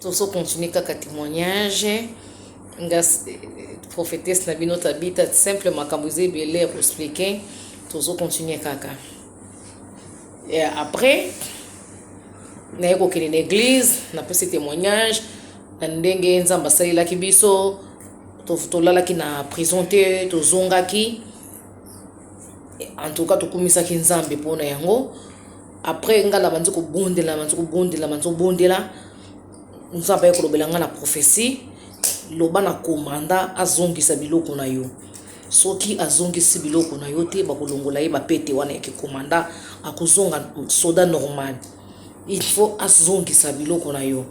tozo continuer kaka temoignage nga prophétesse na bino tabita simple makambo eza ebele ya koexplike tozo continuer kaka et après naye kokende na église napesi témoignage na ndenge nzambe asalelaki biso tolalaki na prison te tozongaki en tout cas tokumisaki nzambe mpona yango après nga na bandi kobondela na bandi kobondela bandi kobondela nzambe aye kolobela nga na prophetie loba na komanda azongisa biloko na yo soki azongisi biloko na yo te bakolongola ye bapete wana ya kikomanda akozonga soda normal il faut azongisa biloko na yo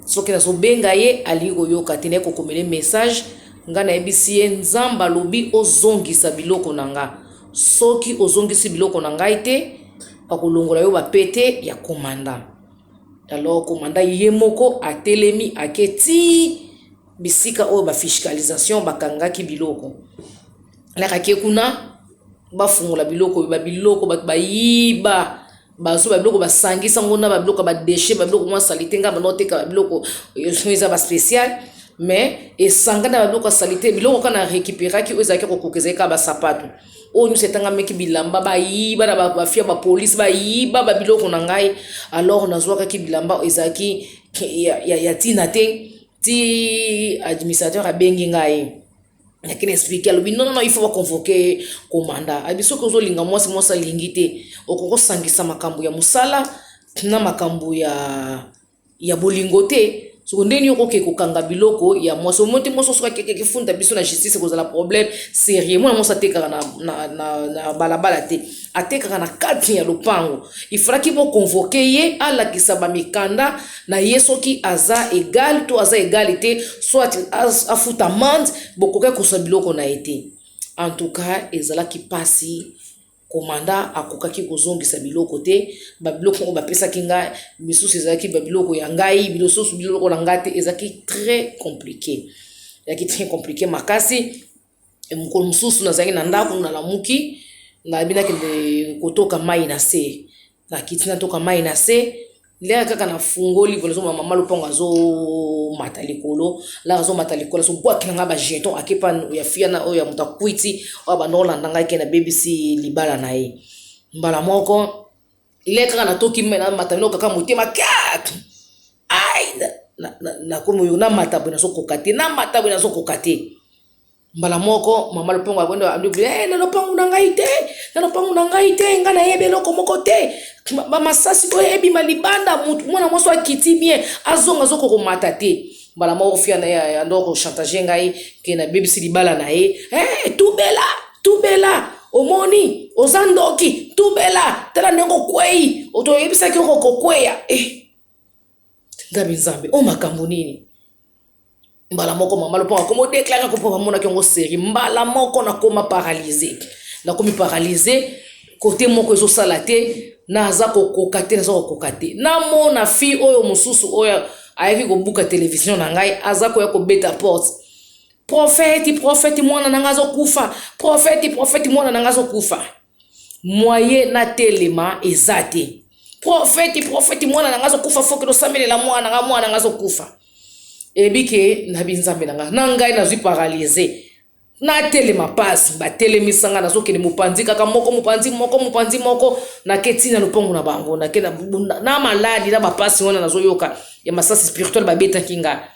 soki nazobenga ye alingi koyoka te naye kokomele message ngai nayebisi ye nzambe alobi ozongisa biloko na nga Soki ozongisi biloko na ngai te, bakolongola yo bapete ya komanda. Alors komanda ye moko atelemi ake tii bisika oyo ba fiscalisation bakangaki biloko. Alakaki kuna bafungola biloko ba biloko bato bayiba. bazwa babiloko basangisa ngo na babiloko ya badeshe babiloko mwa salite ngai banda oteka babiloko soki eza baspécial mais esangani na babiloko ya salite biloko kaka na récupéraki oyo ezalaki kokoka ezalaki kaka basapato oyo nyonso etangameki bilamba bayiba na bafia bapolisi bayiba babiloko na ngai alors nazwakaki bilamba oyo ezalaki ya ntina te ti administrateur abengi ngai ayaki na explike alobi non non il faut baconvoke komanda ayebi soki ozolinga mwasi mwasi alingi te okoki kosangisa makambo ya mosala na makambo ya ya bolingo te soko ndenge nini okoki kokanga biloko ya mwasi omoi te mwasi osoki akekeki funda biso na justice ekozala problème sérieux mwana mwasi atekaka na, na, na, na balabala te atekaka na kati ya lopango ifalaki bokonvoke ye alakisa bamikanda na ye soki aza egale to aza egale te soit afuta mande bokoki kosa biloko na ye te en tout cas ezalaki mpasi komanda akokaki kozongisa biloko te babiloko oyo bapesaki ngai misusu ezalaki babiloko ya ngai bilosusu biloko na ngai te ezalaki très compliqué ezalaki très compliqué makasi Mokolo mosusu nazalaki na ndako nalamuki nayebi nakende kotoka mai na se nakiti natoka mai na se ndenge kaka nafungoli pona azomona mama lopango azomata likolo laka azomata likolo azobwaki na ngai bajeton akepa ya fiana oyo ya moto akwiti oyo abandokolanda ngai ke nabebisi libala na ye mbala moko le kaka natoki mai namata noko kaka motema kak ai nakomi oyo namata boye nazokoka te namata boye nazokoka te mbala moko mama lopango akondi alobi eh, na lopango na ngai te na lopango na ngai te ngai nayebi eloko moko te bamasasi oyo ebima libanda mwana mwasi akiti bien azonga azokokomata te mbala moko fia na ye ando kochantage ngai ke nabebisi libala na ye hey, eh, tubela tubela omoni oza ndoki tubela tala ndenge okwei otoyebisaki oko kokweya eh. ngabi nzambe o makambo nini mbala moko mama loponga komo deklare kopo bamonaki yango seri mbala moko nakoma paralyse nakomi paralyse cote moko ezo sala te na aza kokoka te naza kokoka te namona fi oyo mosusu oyo ayaki kobuka televizio na ngai aza koya kobeta porte profeti profeti mwana na ngai azokufa profeti profeti mwana na ngai azokufa mwaye natelema eza te profeti profeti mwana na ngai azokufa foki tosamelela mwana na ngai mwana na ngai azokufa ebike na binzambe na ngai na ngai nazwi paralyse Natelema pasi, batelemisa nga, nazokende mopanzi kaka moko, mopanzi moko, mopanzi moko, nake ti na lopango na bango, nake na, na maladi, na bapasi wana nazoyoka ya masasi spirituel babetaki nga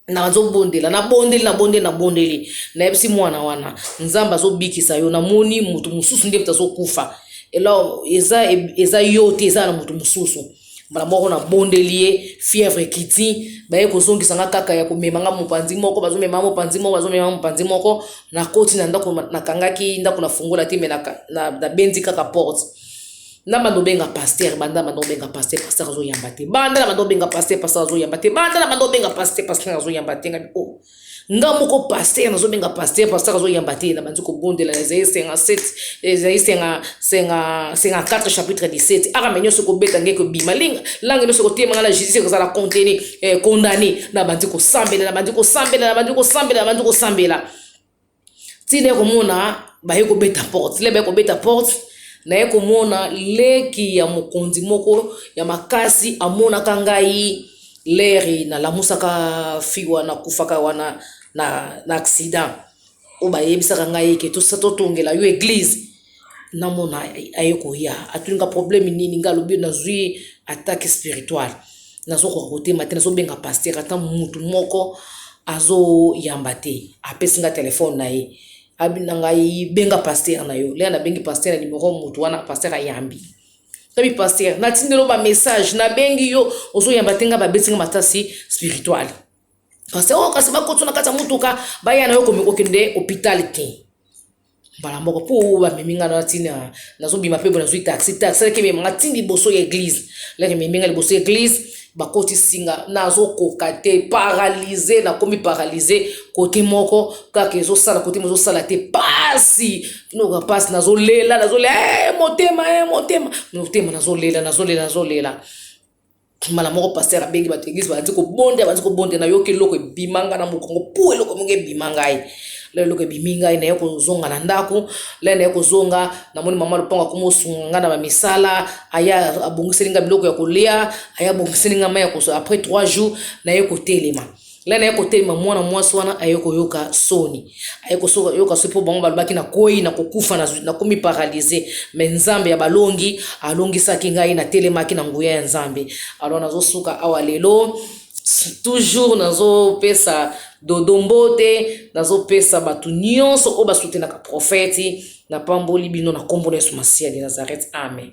nazobondela nabondeli nabondeli nabondeli nayebisi mwana wana nzambe azobikisa yo namoni moto mosusu nde moto azokufa elo eza, eza yo te eza na moto mosusu mbala moko nabondeli ye fièvre ekiti baye kozongisa nga kaka ya komema nga mopanzi moko bazomema nga mopanzi moko bazomema nga mopanzi moko nakoti na ndako nakangaki ndako na fungola te me nabendi kaka porte na banda obenga paster banda banda obenga paster paster azoyamba te banda na banda obenga paster paster azoyamba te banda na banda obenga paster paster azoyamba te ngabi o oh. nga moko paster nazobenga paster paster azoyamba te nabanzi kobondela ezali senga 7 ezali senga senga senga 4 chapitre 17 arame nyonso kobeta nge kobima linga lange nyonso kotemanga na jesus ekozala contenu eh, condamné nabanzi kosambela nabanzi kosambela nabanzi kosambela nabanzi kosambela ti naye komona baye kobeta porte le baye kobeta porte naye komona leki ya mokonzi moko ya makasi amonaka ngai leri nalamusaka fi wana kufaka wana na, na accident oyo bayebisaka ngai eke tosatotongela yo eglize na mona aye koya atuni nga problème nini nga alobi nazwi attaque spirituale nazokoka kotema te nazobenga pasteur ata mutu moko azoyamba te apesi nga telefone na ye abi na ngai benga pasteur na yo lea nabengi pasteur ya nimero mutu wana pasteur ayambi tabi pasteur natindelo bamessage nabengi yo ozoyamba te nga babeti nga matasi spirituale pasteur oyo oh, kasi bakoti na kati ya motuka baya na yo komikokende hôpital te mbala moko mpo bamemi ngai na ntina nazobima mpe nazwi taxi taxi alaki emema ngai ntina liboso ya eglize laki ememi ngai liboso ya eglize bakotisi nga nazokoka te paralyse nakomi paralyse kote moko kaka ezosala kote mo ezosala te pasi noka pasi nazolela nazolela hey, eh, motema hey, eh, motema motema nazolela nazolela nazolela mbala moko pasteur abengi bato eglise balandi kobondela balandi kobondela nayoki eloko ebima ngai na mokongo pu eloko moko ebima ngai lelo eloko ebimi ngai naye kozonga na ndako lelo naye kozonga namoni mama lopango akoma osunga ngai na bamisala aya abongiseli ngai biloko ya kolia aya abongiseli ngai mai ya kosola après trois jours naye kotelema ngai naye kotelema mwana mwasi wana aye koyoka soni aye koyoka soni mpo bango balobaki nakwei na kokufa nakomi paralyse me nzambe ya balongi alongisaki ngai natelemaki na nguya ya nzambe alors nazosuka awa lelo toujours nazopesa dodo mbote nazopesa bato nyonso oyo basutenaka profeti napamboli bino na nkombo na yesu masiya de nazareth amen